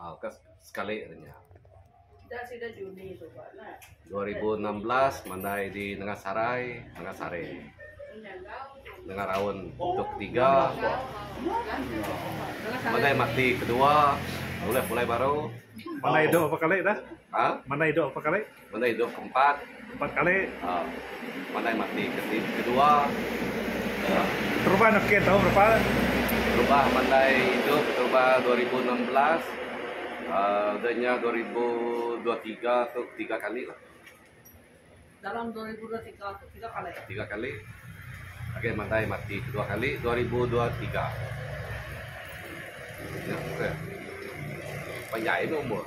Aaa ka sekali ari nya. Dua ribu enam belas mandai di Nengah Sarai, Nengah Sare. Nengah raun tu ketiga. Mandai mati kedua. Bulih pulai baru. Mandai dua berapa kali dah? Haa? Mandai dua berapa kali? Mandai hidup ke empat. Empat kali. Mandai mati ke ti ke dua. Terubah neh ken tau berapa. Terubah mandai hidup terubah dua ribu enam belas udah nya dua ribu dua tiga tu tiga kali lah. Dalam dua ribu dua tiga tu tiga kali. Tiga kali. Agi mandai mati ke dua kali dua ribu dua tiga. Nya seh. Panjai meh umur.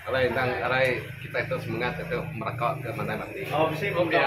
Alai endang arai kitai tu semengat diatu meraka ke mandai mati. Pia.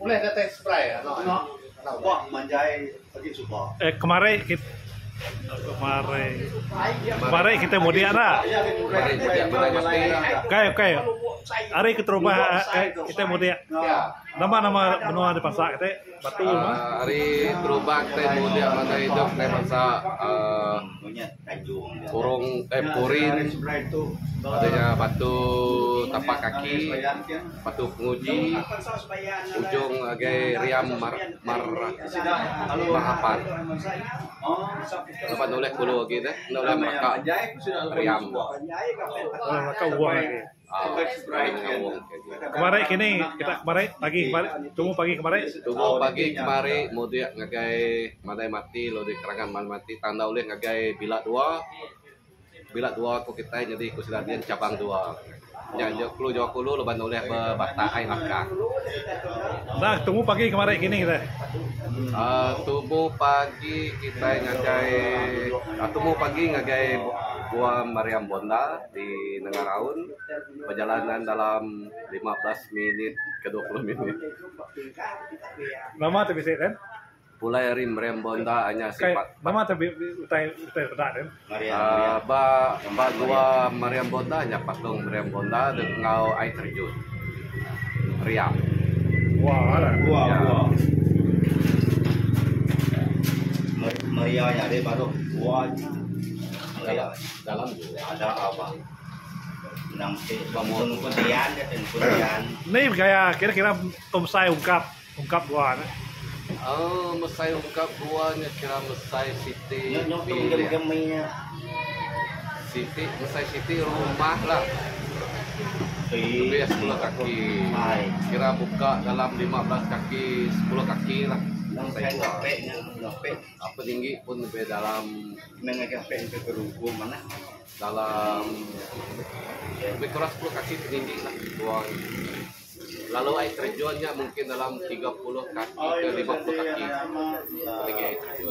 Ulih datai spray anak udah agi. Manjai agi suba. Eh kemari kit kemari kemari kita mudik dah. Okey okey. Hari keterubah kita mudik. Nama nama menua di Bansa kita? Batu. Hari terubah kita mudik masa hidup di Bansa. Monyet. Purung eh purin ari nya batu tapak kaki batu penguji ujung agai riam mar mar mahapan laban ulih kulu agi deh enda ulih maka riam. Kemari kini kita kemari pagi kemari tumu pagi kemari. Tumu pagi kemari mudik ngagai mandai mati lalu di kerangan mandai mati tang enda ulih ngagai bila dua. Bila dua ku kitai nyadi ku sida dian cabang dua. Nya nya kulu jawa kulu laban ne ulih bebatak ai lakang. Nah tumu pagi kemari kini deh. Aaa tumu pagi kitai ngagai aaa tumu pagi ngagai Gua Mariam Bonda. Di nengah raun, perjalanan dalam lima belas minit ke dua puluh minit. Nama tu bisi den? Pulai ari Meriam Bonda anyar sipat. Kai nama tu utai utai peda den? Meriam. Ba ba gua Meriam Bonda anyar patung Meriam Bonda dek enggau ai terjun. Meriam. Gua lah. Gua ya. gua. Meriam ya dek baru. Gua. Meriam. Dalam. Ada au bah. Endang ti bangsa nungkut dian dia tu nungkut dian. Ni gaya kira kira pemesai ungkap ungkap gua nih. Oh mesai ungkap gua nya kira mesai siti bilik. Siti mesai siti rumah lah. Lebih sepuluh kaki. Kira buka dalam lima belas kaki sepuluh kaki lah. Mesai gua. Ape tinggi pun lebih dalam meh ngagai ape enti ke rumpung manah dalam lebih kurang sepuluh kaki ke tinggi lah buai lalu air terjun nya mungkin dalam tiga puluh kaki ke lima puluh kaki ape tinggi air terjun.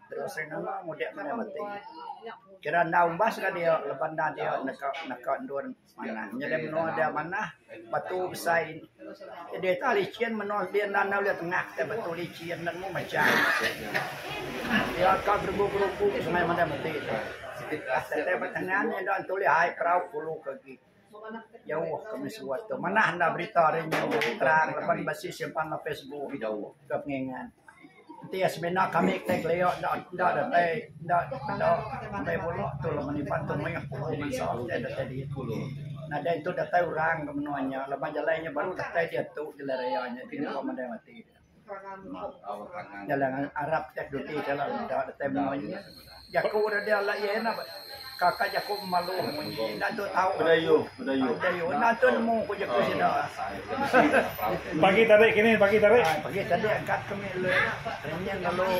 Sing nama mudip maya mati. Kira enda umbas ka dia lepa enda dia neka neka endun manah. Nyadi menua dia manah batu besai jadi ita lichin menua dia enda enda ulih tengah ka batu lichin nemu mejai. Dia ka gerugu gerugu semaya mada mati. Siti ka tengan enda ulih ai perau kulu ka agi. Jauh ke mesuah tu manah enda berita ri nyin bisi terang laban bisi simpan dalam Facebook ke pengingat. Enti iya semina kami ke tai kelia enda enda deh tai enda enda ambai bula tu lah meni pan tu meh pu'un bansa tai datai diit. Nadai tu datai orang ke menua nya laban jalai nya baru datai diatu jalai raya nya kini pun mandai mati. Jalan anak arap teknologi enda datai menua ini. Jaku dak deh alai iya nya kaka jaku malu munyi enda tu tau. Bedayuh enda tu nemu ku jaku sida. Pagi tadi kini pagi tadi. Pagi tadi angkat kami renyih lalu.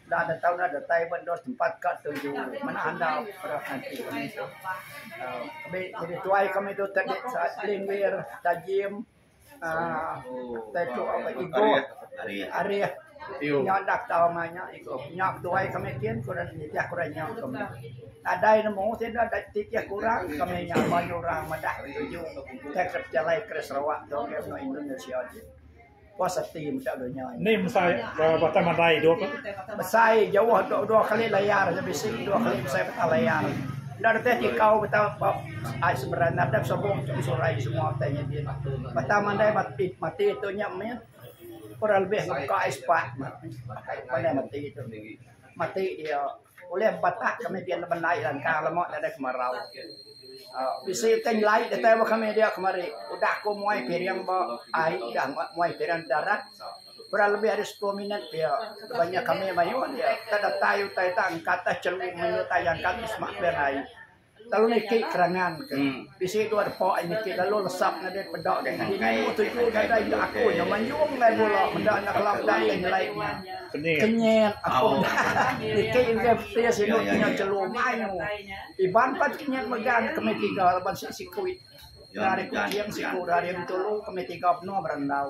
Enda ada tau enda datai ba endur tempat ka tuju mena andau parab ngaji kami tu. Kami nyadi tuai kami tu tadi Sa'ad Linggir, Tajim aaa tai tu Igoh, Arif nya enda ku tau angai nya Igoh. Nya tuai kami kin ku ran nitih ku ran nya ku nya. Nadai nemu sida da titih ku orang kami nya banyu orang madah tuju tei ke pejalai ke Sarawak tu ke benua Indonesia ti. puas ati meda dunya ni. Ni mesai batang mandai dua kali. Mesai jauh dua, dua kali layar aja bisi dua kali mesai batang layar. Enda reti tikau batang bab ai seberan nadap sobong tu surai semua utai nya din. Batang mandai mati mati tu nya meh kurang lebih muka ai sepat meh. Pandai mati tu. Mati dia. Ulih empat tak kami pia nemu nai langka lema nadai ke marau. Aaa bisi utai nyelai datai ba kami dia kemari. Udah ku muai piring ba ai udah muai piring darat kurang lebih ari sepuluh minit pia laban nya kami mayuh dia. Tang datai utai tang ka atas chelu meh utai jangka ti sema pia nai. Lalu niki kerangan ke bisi dua depa aja niki lalu lesap nadai peda deh ngaji nemu tuju nadai indu aku nya manjung engai bula meda anak kelap dang deh nyelai nya kenyit aku niki imbah pia sinu nya chelum mayuh iban pat kenyit mega nya kami tiga laban sik siku iti ari kuching siku ari bintulu kami tiga benung berandau.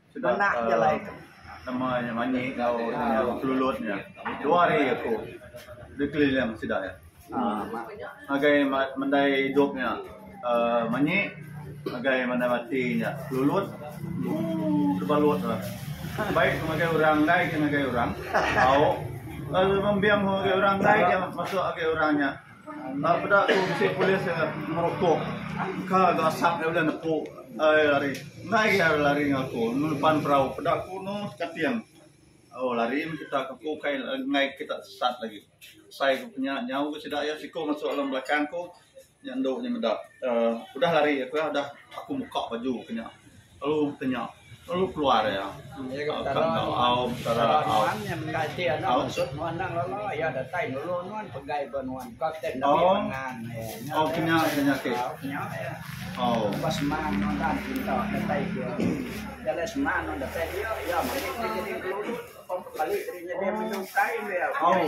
Suba nama nya manyi enggau kelulut nya dua hari aku bekeliling sida nya ngagai mendai idup nya uhh manyi ngagai mendai mati nya kelulut ooh tebalut nya baik aku ngagai orang enggai ke ngagai orang tau lembing aku ngagai orang enggai ke masuk ngagai orang nya. Enda peda ku bisi polis ke ngerokok engka ga asap nya ulih nepu ai lari. Enda agi ari lari enggau aku ngeluban perau peda ku anu Kating oh lari meh kita ke ku kai enggai kita sesat lagi. Sai ku nya nyau ku sida iya siku masuk dalam belakang ku nya endu nya meda aaa udah lari aku iya udah aku muka baju ke nya. Lalu ke nya lalu keluar iya ka enggau au Petara au. Au au ke nya ke nya ti. Au. Au.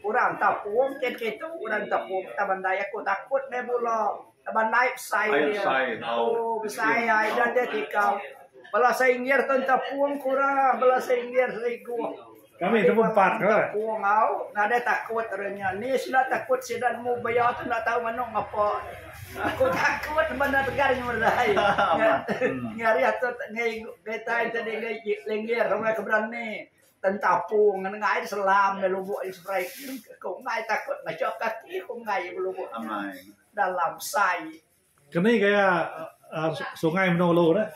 Orang tapung ke kitu orang tapung ta bandai aku takut main bula ta bandai besai dia tu besai ai ida deh tikau bala sengir tun tapung ku ra bala sengir serigup tapung au nadai takut ra nya ni sida takut sida nemu baya tu enda tau manu ngapa aku takut bendar tegal nyu merai ngarih atur ngai tai tadi ngai lengir orang ke berani. Ten tapung ngan enggai diselam meh lubok nya seberai kin ku enggai takut macha ka ati ku enggai iya belubok nya dalam sai. Ke ni gaya aaa sungai menua ulu dah.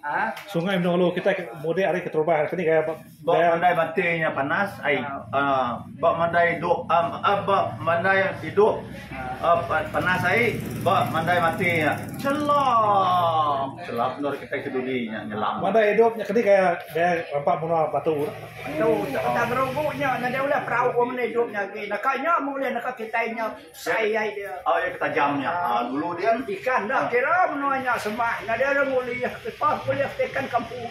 Aa sungai menua ulu kitai ke mudik ari keterubah ke ni gaya ba mandai bati nya panas ai aaa ba mandai dok aaa ba mandai idup. Panas ai ba mandai mati nya. Chelong. Chelap endur kitai ke dudi nya nyelam. Mandai idup nya kedi gaya gaya rampa menua batu tu. Tu Taga Gerugu nya nyadi ulah perau orang menda idup nya agi. Naka nya meh ulih naka kitai nya sai ai dia. Au iya ke tajam nya. Au dulu din. Ikan dah kira menua nya semah nyadi orang ulih. Lepa ulih ti ikan kampung.